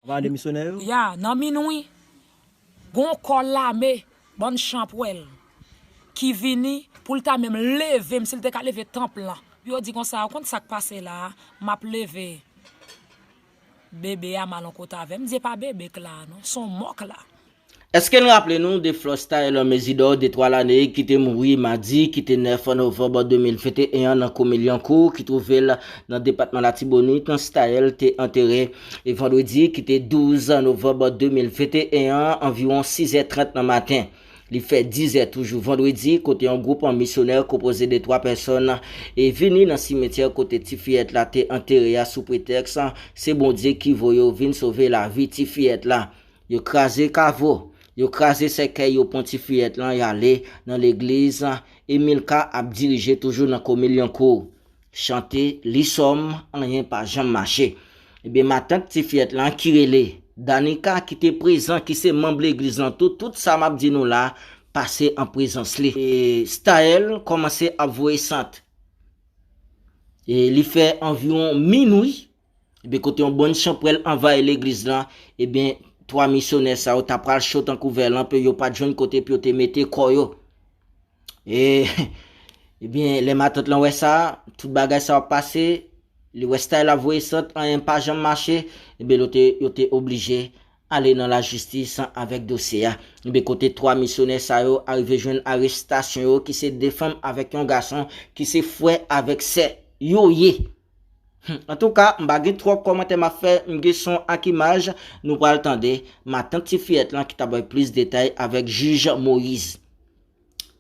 Ou pale de misyonè yo? Ya, nan min wi. Gen yon kò lame, bann chanpwèl, ki vini pou l ta menm leve, m si l te ka leve tanp lan. Pou yo di konsa, ou konn sa k pase la a? M ap leve bebe a m al yon kote avè l. M di e pa bebe k la a non, s on mò k la. Eske n raple nou de Flosta Elon Mesidor de 3 lane ki te mouri madi ki te 9 novanb 2021 an nan komin Lyankou ki twouve l nan depatman Latibonit, Staël te antere vandredi ki te 12 novanb 2021 an anviwon 6 zè 30 nan maten. Li fè 10 zè toujou vandredi kote yon gwoup misyonè konpoze de 3 pèsòn e vini nan simetyè kote ti fiyèt la te antere a sou pretèks se Bondye ki voye w vin sove lavi ti fiyèt la. Yo kraze kavo, yo kraze sèkèy yo pwan ti fiyèt lan yale nan legliz Emilka ap dirije toujou nan komin Lyonkou. Chante, li sòm, anyen pa janm mache. Ebyen matant ti fiyèt lan ki rele Danika ki te prezan ki se manb legliz lan tou tout sa map di nou la pase an prezans li. Staël kòmanse ap voye sant. Li fè anviwon minwi Ebyen kote yon bon chanpwèl anvayi legliz lan, ebyen 3 misyonè sa yo ta pral cho tankou vè lanpe, yo pat jwenn kote pou yo te mete kò yo. E, ebyen lè matant lan wè sa, tout bagay sa yo ap pase, li wè style ap voye sant, anyen pa janm mache, ebyen yo te yo te oblije ale nan lajistis avèk dosye a. Ebyen kote 3 misyonè sa yo arive jwenn arestasyon yo ki se 2 fanm avèk yon gason ki se frè avèk sè yo ye. Humm antouka m pa gen twòp kòmantè map fè m gen son ak imaj nou pral tande matant ti fiyèt lan ki ta bay plis detay avèk jij Moïse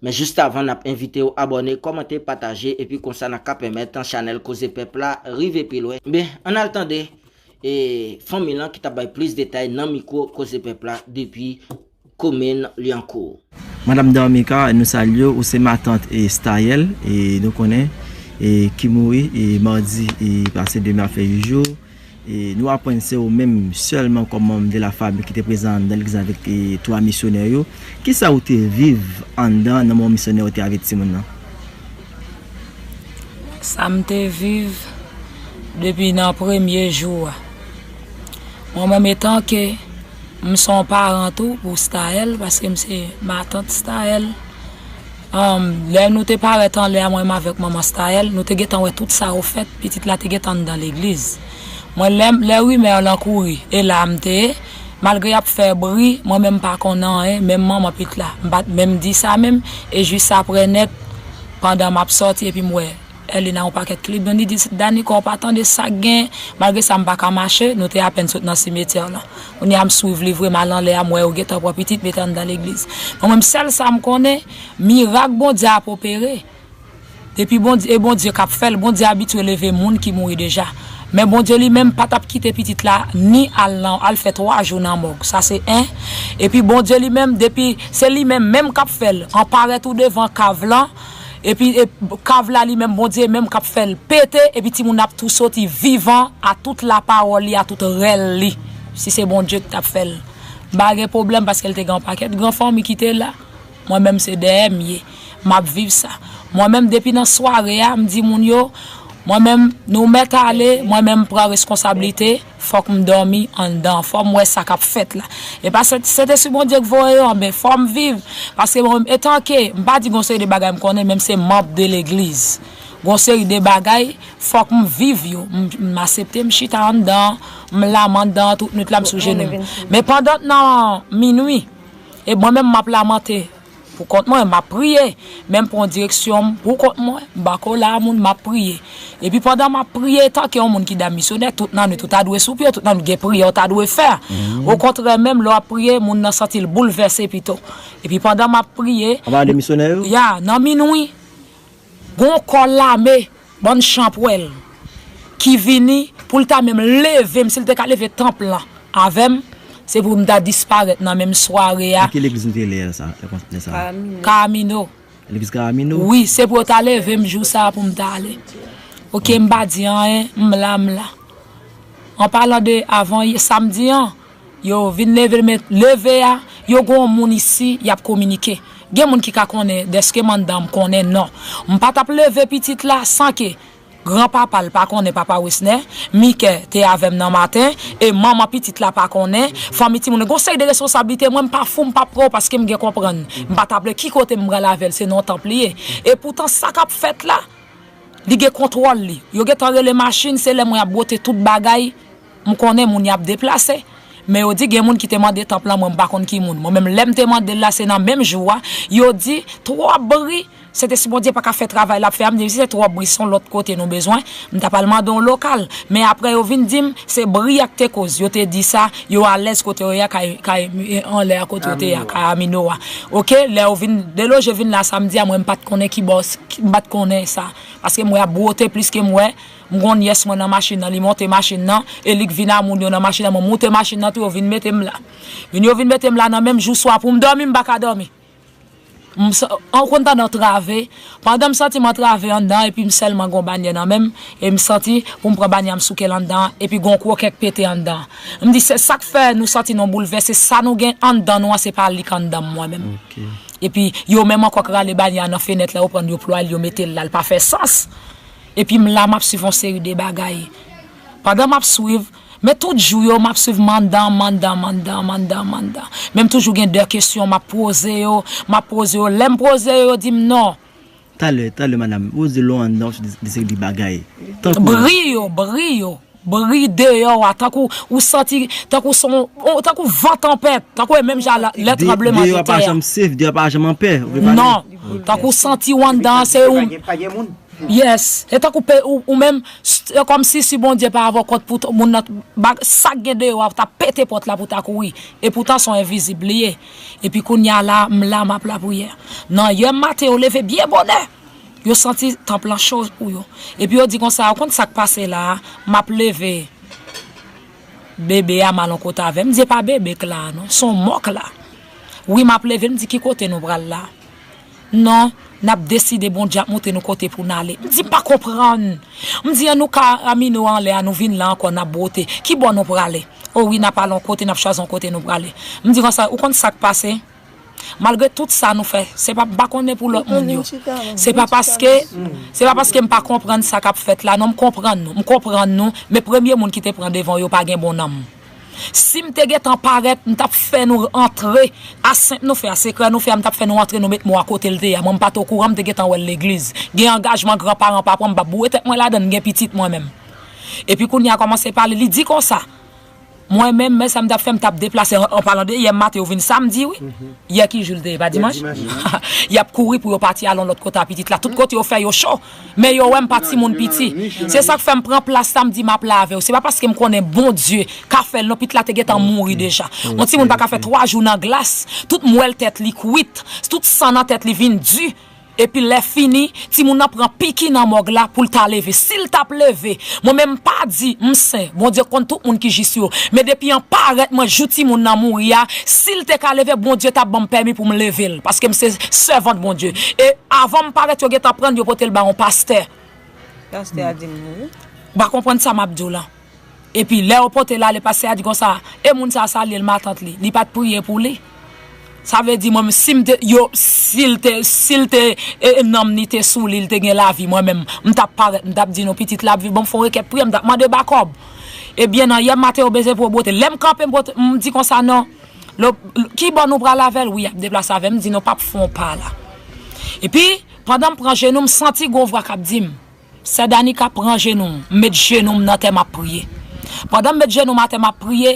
men jis avan nap envitew abòne kòmante pataje epi konsa nan ka pèmèt chanèl koze pèp la rive pi lwen ben ann al tande fanmi lan ki ta bay plis detay nan mikwo koze pèp la depi komin Lyankou. Madam Darmica nou salyew ou se matant Staël nou konnen ki mouri mardi pase demen ap fè 8 jou nou aprann se ou menm sèlman kòm manm de la fami ki te prezan anndan legliz avèk 3 misyonè yo kisa ou te viv anndan nan moman misyonè yo te avèk timoun nan? Sam te viv depi nan premye jou a mwen menm etanke M son paran tou pou Staël paske m se matant Staël. Humm lè nou te parèt anlè a mwen m avèk manman Staël nou te gentan wè tout sa ou fèt pitit la te gentan anndan legliz mwen lè lè rimè lan kouri e la m te malgre y ap fè bri mwen menm m pa konn anyen menm manman pit la m pa t menm di sa menm e jis aprè nèt pandan m ap sòti epi m wè Erlina yon pakèt klib nan li di Danikò pa tande sak gen malgre sa mpa ka mache nou te apèn sot nan simetyè lan kounya m swiv li vre mal anlè a m wè yo gentan pran pitit mete anndan legliz men mwen m sèl sa m konnen mirak Bondye ap opere depi Bondye e Bondye kap fèl Bondye abitye leve moun ki mouri deja men Bondye li menm pa tap kite pitit la ni al nan al fè 3 jou nan mòg sa se 1 epi Bondye li menm depi se li menm menm kap fèl an parèt ou devan kav lan Epi kav la li menm Bondye menm kap fèl pete epi timoun nan ap tou soti vivan a tout la pawòl li a tout rèl li si se Bondye ki tap fèl m pa gen pwoblèm paskel te gen yon pakèt gran fanmi ki te la mwen menm se dèyè m ye map viv sa mwen menm depi nan sware a m di moun yo mwen menm nou mèt ale mwen menm pran reskonsablite. Fòk m dòmi anndan an. Fò m wè sa k ap fèt la. E pa se se te si Bondye k voye yo anben fò m viv. Paske mwen menm etanke, m pa di gon seri de bagay m konnen menm se manb de legliz. Gon seri de bagay fòk m viv yo. M m asepte m chita anndan an. M laman dan an tout nwit la m sou jenou m. Men pandan nan minwi e mwen menm m ap lamante. Pou kont mwen, m ap priye. Men m pran direksyon m pou kont mwen, m pa kole a moun, m ap priye. Epi pandan m ap priye, etanke yon moun ki dam misyonè, tout nan nwit ou ta dwe sou pye w, tout nan nwit gen priyè w ta dwe fè. Okontrè menm, lè w ap priye, moun nan santi l boulvèse pito. Epi pandan m ap priye. Anba de misyonè yo? Ya, nan minwi. Gon kò lame, bann chanpwèl, ki vini pou l ta menm leve m, si l te ka leve tanp lan avè m, se pou m ta disparèt nan menm sware a. Nan ki legliz nou te lè sa, lè sa a? Karamino. Legliz Karamino? Wi, se pou yo ta leve m jou sa a pou m ta ale. Ok, m pa di anyen, m la, m la. An palan de avan yè, samdi an, Yo vin leve men leve a, yo gon moun isi yap kominike. Gen moun ki ka konnen deske mandanm konnen non. M pa tap leve pitit la san ke gran papa l pa konnen papa Wesnè, Mike te avè m nan maten e manman pitit la pa konnen, fanmi timoun lan gon seri de responsablite mwen m pa fou m pa pran w paske m gen konprann m pa tap lè ki kote m pral avè l se nan yon tanp li ye. E poutan sa kap fèt la li gen kontwòl li. Yo gentan rele machin se lè mwen ap bwote tout bagay. M konnen moun y ap deplase. Men yo di gen moun ki te mande tanp lan mwen m pa konn ki moun. Mwen menm lè m te mande l la se nan menm jou a yo di twòp bri se te si Bondye pa ka fè travay l ap fè a m di si se twòp bri se yon lòt kote nou bezwen m ta pral mande yon lokal men aprè yo vin di m se bri a k te koz yo te di sa yo alèz kote yo ye a kay kay anlè a kote yo te ye a kay Amino a ok lè yo vin deloje vin la samdi a mwen m pa t konnen kibò m pa t konnen sa paske m wè y ap bwote plis ke m wè M gon nyès mwen nan machin nan li monte machin nan e li k vin a moun yo nan machin nan mwen moute machin nan tou yo vin mete m la min yo vin mete m la nan menm jou swa pou m dòmi m pa ka dòmi m an konn tande antrave pandan m santi m antrave anndan epi m sèlman gon banyè nan menm e m santi pou m pran banyè a m souke l anndan an epi gon kwokè k pete anndan an m di se sa k fè nou santi nou boulvèse sa nou gen anndan nou an se pa li k anndan m mwen menm epi yo menm ankò k rale banyè a nan fenèt la yo pran l yo plwa l yo mete l la l pa fè sans. Epi m la map swiv yon seri de bagay. Pandan map swiv, men tout jou yo map swiv mandan, mandan, mandan, mandan, mandan. Men m toujou gen de kesyon map pwoze yo, map pwoze yo. Lè m pwoze yo, yo di m non. Talè, talè madam, ou di lou andan ou swiv de seri de bagay. Tankou. Bri yo, bri yo. Bri deyò a tankou ou santi tankou son tankou van tanpèt tankou e menm jan lè tranbleman de tè a. Non, tankou ou santi ou anndan an se ou. Yes, e tankou pe ou menm se kòmsi si Bondye pa avè w kòt pou moun nan bag sak gen deyò a ou ta pete pòt la pou ta kouri epoutan son envizib li ye epi kounya la m la map lapriyè nan yè maten yo leve byen bonè Yo santi tanp lan cho pou yo. Epi yo di konsa, Ou konn sa k pase la a? M ap leve bebe a m al yon kote avè l. M di, E pa bebe k la a non. S on mò k la. Wi, m ap leve l. M di, Ki kote nou pral la a? Non, n ap deside Bondye ap montre nou kote pou n ale. M di, M pa konprann. M di, An nou ka amine w anlè a, nou vin la ankò, n ap bwote. Ki bò nou prale? O wi, n ap al yon kote, n ap chwazi yon kote nou prale. M di konsa, Ou konn sa k pase? Malgre tout sa nou fè, se pa m pa konnen pou lòt moun yo. Se pa paske, se pa paske m pa konprann sa k ap fèt la non, m konprann nou, m konprann nou, men premye moun ki te pran devan yo pa gen bon nanm. Si m te gen tan parèt, m t ap fè nou antre, asent nou fè a, sekrè nou fè a, m t ap fè nou antre nou met mo a kote l te ye a. Mwen m pa t okouran, m te gen tan wè l legliz. Gen angajman gran paran pa pran, m pa boure tèt mwen ladan l, m gen pitit mwen menm. Epi kounye a kòmanse pale, li di konsa. Mwen menm men sa m tap fè m tap deplase an palan de yè maten yo vin samdi wi yè ki jou l te ye pa dimanch yap kouri pou yo pati al yon lòt kote a pitit la tout kote yo fè yo cho men yo wè m pa timoun piti se sak fè m pran plas la m di map la avè w se pa paske m konnen Bondye ka fè l non pitit la te gentan mouri deja yon timoun pa ka fè 3 jou nan glas tout mwèl tèt li kwit tout san nan tèt li vin di. Epi lè fini timoun nan pran piki nan mòg la poul ta leve sil tap leve mwen menm mpa di m sen Bondye konn tout moun ki jis yo men depi an parèt mwen jou timoun nan mouri a sil te ka leve Bondye tap banm pèmi poum level paskem se sèvant Bondye e avanm parèt yo gentan prann yo potel ba yon pastè Pastè a dim mouri. Ou pa konprann sa map diw lan. Epi lè yo pote l ale pastè a di konsa, e moun sa salye l matant li, li pat priye pou li? Sa vle di mwen menm si m te yo si l te si l te nanm li te sou li, li te gen lavi mwen menm m tap parèt m tap di nou pitit la ap viv banm fon rekèt priyè m tap mande bakòb. Ebyen nan yè maten yo bese pou yo bwote l. Lè m kanpe m pote m di konsa non lo ki bò nou pral avè l wi y ap deplase avè m di non pap fon pa la. Epi pandan m pran jenou m santi gon vwa k ap di m. Sè Danica pran jenou m met jenou m nan tè map priye pandan m met jenou m atè map priye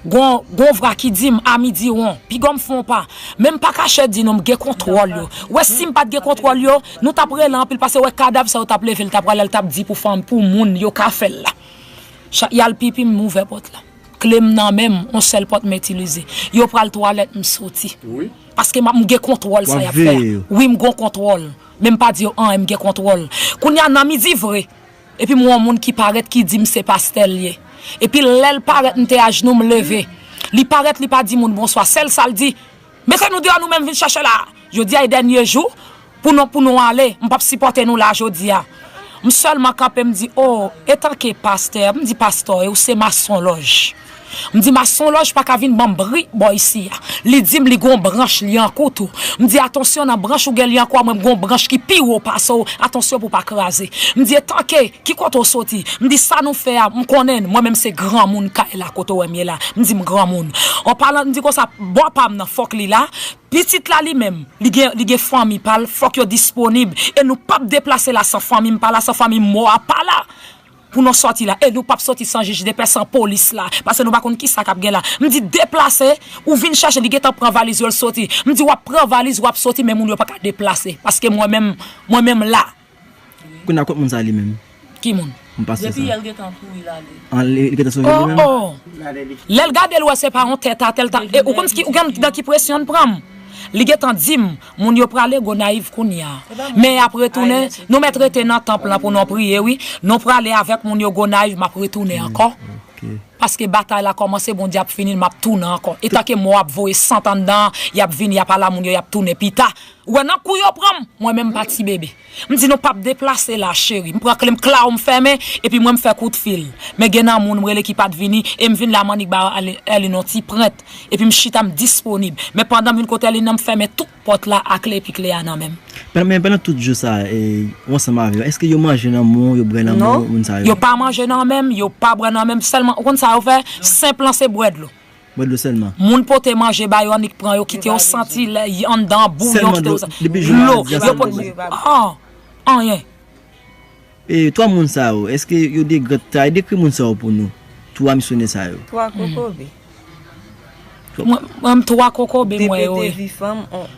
gon gon vra ki di m ami di won piga m fon pa men m pa kache di nou m gen kontwòl yo wè sim pat gen kontwòl yo nou tap rele anpil pase wè kadav sa yo tap leve l ta pral al tap di pou fanm pou moun yo ka fèl la chak yal pipi m ouvè pòt la kle m nan menm on sèl pòt m itilize yo pral twalèt m soti paske m gen kontwòl sa yap fè a wi m gon kontwòl. Men m pa di yo anyen m gen kontwòl. Kounya nan midi vre epi m wè yon moun ki parèt ki di m se pastè l ye. Epi lè l parèt m te ajnou m leve. Li parèt li pa di moun bonswa sèl sa l di Mete nou deyò nou menm vin chèche la Jodi a e dènye jou pou nou pou nou ale m pap sipòte nou la jodi a. M sèlman kanpe m di oo etanke pastè m di pastò e ou se masonlòj. M di masonlòj pa ka vin ban m bri bò isi a. Li di m li gon branch lyankou tou. M di atansyon nan branch ou gen lyankou a mwen m gon branch ki pi wo pase w atansyon pou w pa kraze. M di etanke ki kote w soti? M di sa nou fè a m konnen n mwen menm se granmoun kay la kote w wè m ye la. M di m granmoun. An palan m di konsa bò pa m nan fòk li la. Pitit la li menm li gen li gen fanmi pa l fòk yo disponib e nou p ap deplase la san fanmi m pa la san fanmi mò a pa la. Pou nou sòti la e nou pap sòti san jij depè san polis la pase nou pa konn kisa kap gen la m di deplase ou vin chèche li gentan pran valiz yo l sòti m di wap pran valiz wap sòti men moun yo paka deplase paske mwen menm mwen menm la. Kounya kot moun sa li menm. Ki moun? Moun pastè sa. Depi yè l gentan kouri l ale. An li gentan sonje li menm? Oh oh lèl gadel wè se pa yon tèt atè l ta e ou konn ou konn nan ki presyon l pran m li gentan di m Moun yo prale Gonayiv kounya. Men yap retounen, nou mèt rete nan tanp lan pou non priye wi. Nou prale avèk moun yo Gonayiv map retounen ankò. Paske batay la kòmanse Bondye ap finil map tounen ankò. Etan ke mò ap voye sant anndan an, yap vini yap ala moun yo yap tounen pita. Ou wè nan kou yo pranm, mwen menm m pa ti bebe. M di nou pap deplase la cheri. M pran kle m klaw m fèmen epi mwen m fè kout fil. Men gen nan moun m rele ki pat vini e m vin la m annik ba Erline yon ti prent epi m chita m disponib. Men pandan m vin kot Erline nan m fèmen tout pòt la a kle epi kle a nan men m. Men pandan tout jou sa ou ansanm avè yo èske yo manje nan men w yo bwè nan men w moun sa yo? Non yo pa manje nan men m yo pa bwè nan men m sèlman ou konn sa yo fè senp lan se bwè dlo. Bwè dlo sèlman. Moun pote manje ba yo annik pran yo kite yo santi lè y anndan an bouyon kite yo santi dlo yo pot moun an anyen. E 3 moun sa yo eske yo de gran tray dekri moun sa yo pou nou 3 misyonè sa yo. 3 kokobe. Mwen 3 kokobe mwen yo ye.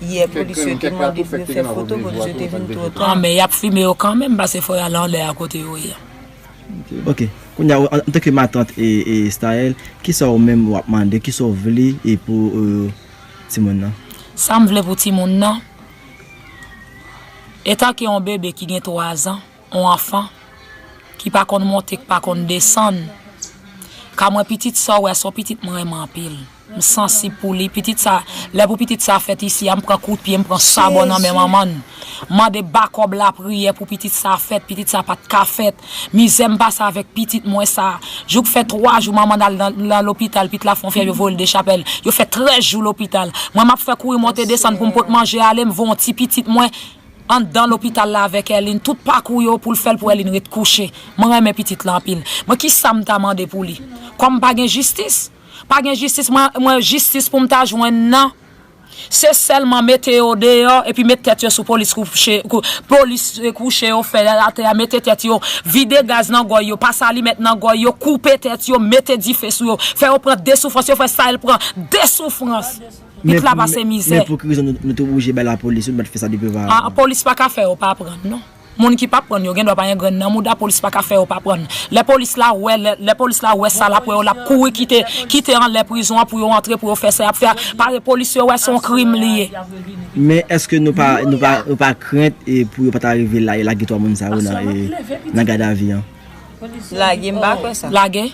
yè polis yo te mande pou yo fè foto polis yo te vin two ta. An men yap fime yo kanmenm pase fò yal anlè a kote yo ye a. Ok kounya ou antanke matant Staël kisa ou menm wap mande kisa ou vle pou timoun nan. Sam vle pou timoun nan etanke on bebe ki gen 3 zan on anfan ki pa konn monte ki pa konn desann ka mwen pitit sa ou wè a son pitit mwen renmen anpil. M sansib pou li pitit sa lè pou pitit sa fèt isi a m pran kout pye m pran sabò nan men manmann m mande bakòb lapriyè pou pitit sa fèt pitit sa pat ka fèt mizè m pase avèk pitit mwen sa jouk fè 3 jou manmann al nan lopital pit la fon fyèv yo voyel dechapèl yo fè 13 jou lopital mwen map fè kouri monte desann poum pot manje ale m voyyon ti pitit mwen andan lopital la avèk Elin tout pakou yo poul fèl pou Elin ret kouche m renmen pitit la anpil mwen kisam ta mande pou li kòm pa gen jistis. Pa gen jistis mwen jistis poum ta jwenn nan se sèlman mete yo deyò epi met tèt yo sou polis polis kouche yo fè atè a mete tèt yo vide gaz nan gòy yo pase alimèt nan gòy yo koupe tèt yo mete dife sou yo fè yo pran de soufrans yo fè sa el pran de soufrans pit la pase mizè. Men pou ki rezon nou te oblije bay lapolis yo nou pat fè sa depi ovavan. Polis paka fè yo pa pran non. Moun ki pa prann yo gen dwa pa gen grenn nan mouda polis paka fè yo pa prann lè polis la wè lè polis la wè sa lap wè yo lap kouri kite kite anlè prizon an pou yo antre pou yo fè sa yap fè a pare polis yo wè son krim li ye. Men eske nou pa nou pa nou pa krent pou yo pata rive lage 3 moun sa yo nan nan gadavi an. Lage m pa kwè sa. Lage.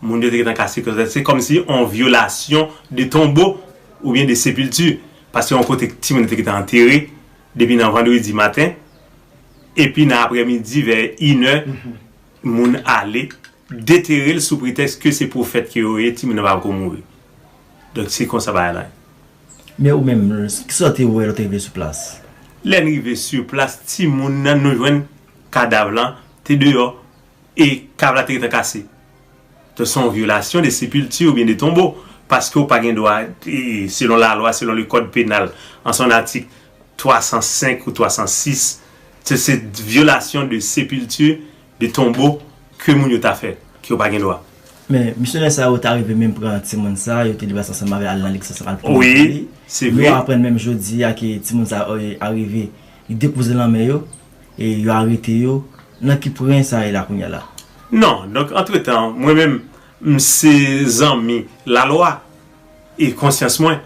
Moun yo te gentan ka sikonse. Se kòmsi yon vyolasyon de tonbo oubyen de sepilti, paske yon kote timoun yo te gentan antere depi nan vandredi maten, epi nan aprèmidi vè inè moun ale detere l sou pretèks ke se pwofèt ke yo ye, timoun nan pa poko mouri. Donk se konsa bagay la ye. Men ou menm, kisa w te wè lè w te rive sou plas? Lè n rive sou plas, timoun nan nou jwenn kadav lan te deyò e kab la te gentan kase. Donk se yon vyolasyon de sepilti oubyen de tonbo paske ou pa gen dwa selon lalwa, selon le kòd penal an son atik 305 ou 306 se se vyolasyon de sepilti, de tonbo ke moun yo ta fè ke yo pa gen dwa. Men, misyonè sa yo ta rive menm pran timoun sa, yo te libere sa ansanm avè al nan Lexus al pran li. Nou aprann menm jodi a ke timoun sa yo arive li depouze lanmè yo. E yo arete yo, nan ki pwen sa ye la kounye a la? Non, donk antretan, mwen menm, m se zanmi lalwa, e konsyans mwen.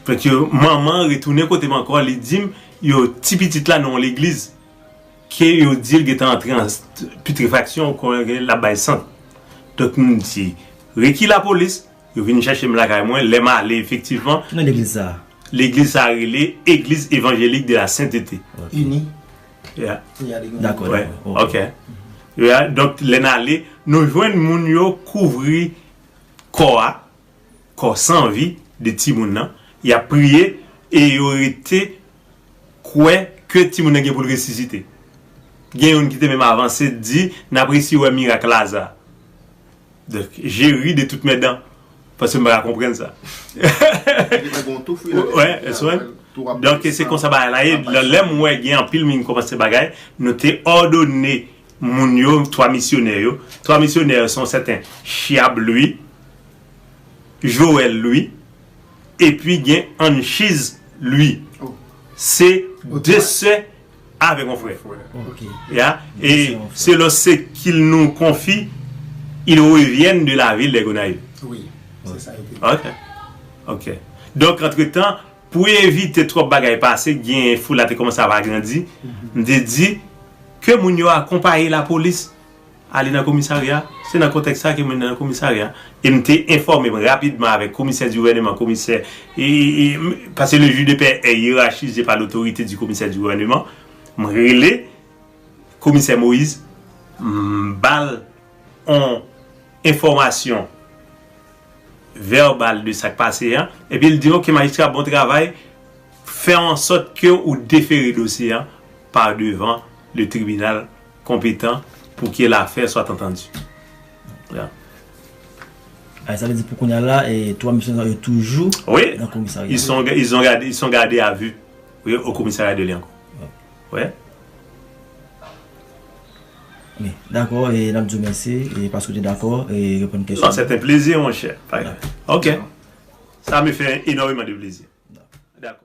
Donk yo, manman an retounen kote m ankò, li di m, yo, ti pitit la nan yon legliz, ke yo di l gentan antre an putrefaksyon, ou konnen, l ap bay sant. Donk m di, reki lapolis. Yo vin chèche m lakay mwen, lè m ale efektivman. Ki non legliz sa a? Legliz sa a rele Église Évangélique de la Sainteté. Ini. Ya. Dakò, dakò. Ok. Ya, donk lè n ale, nou jwenn moun yo kouvri kò a, kò san vi de timoun nan, y ap priye e yo rete kwè ke timoun nan gen pou l resisite. Gen youn ki te menm avanse di, n ap resi wè mirak Laza. Je ri de tout mes dents paske m pa ka konprann sa. Donk se konsa bagay la ye. Lè m wè gen anpil moun ki kòmanse bagay, nou te òdone moun yo, 3 misyonè yo. 3 misyonè yo se yon sèten Chiab Louis, Joel Louis epi gen Anchiz Louis. Se 2 sè. Avèk yon frè. Ya. E se lò se kil nou konfi il revièn de la vil de Gonayiv. Wi. Se sa yo te di. Ok. Ok. Donk antretan, pou evite twòp bagay pase, gen foul la te kòmanse ap agrandi, m te di ke moun yo akonpaye lapolis Ale nan komisarya. Se nan kontèks sa ke mwen nan komisarya e m te enfòme m rapidman avèk komisè di gouvèneman, komisè e paske le juge de paix est hiérarchisé par l'autorité du commissaire du gouvernement, m rele komisè Moïse m ba l on enfòmasyon vèbal de sa k pase a epi l di ok majistra bon travay fè an sòt ke ou defere dosye a par devan le tribinal Konpetan pou ke lafè soit entendu. Yeah. Ay sa vle di pou kounya la 3 mesye sa yo toujou Oui. nan komisarya. Ils sont ils ont gardé ils sont gardés à vue oui au commissariat de Lyankou. Oui. Wi, dakò e nap di w mèsi e paske w te dakò e reponn kesyon yo. Non, c'est un plaisir mon cher. Ok. Sa me fait enormeman de plaisir. Dakò.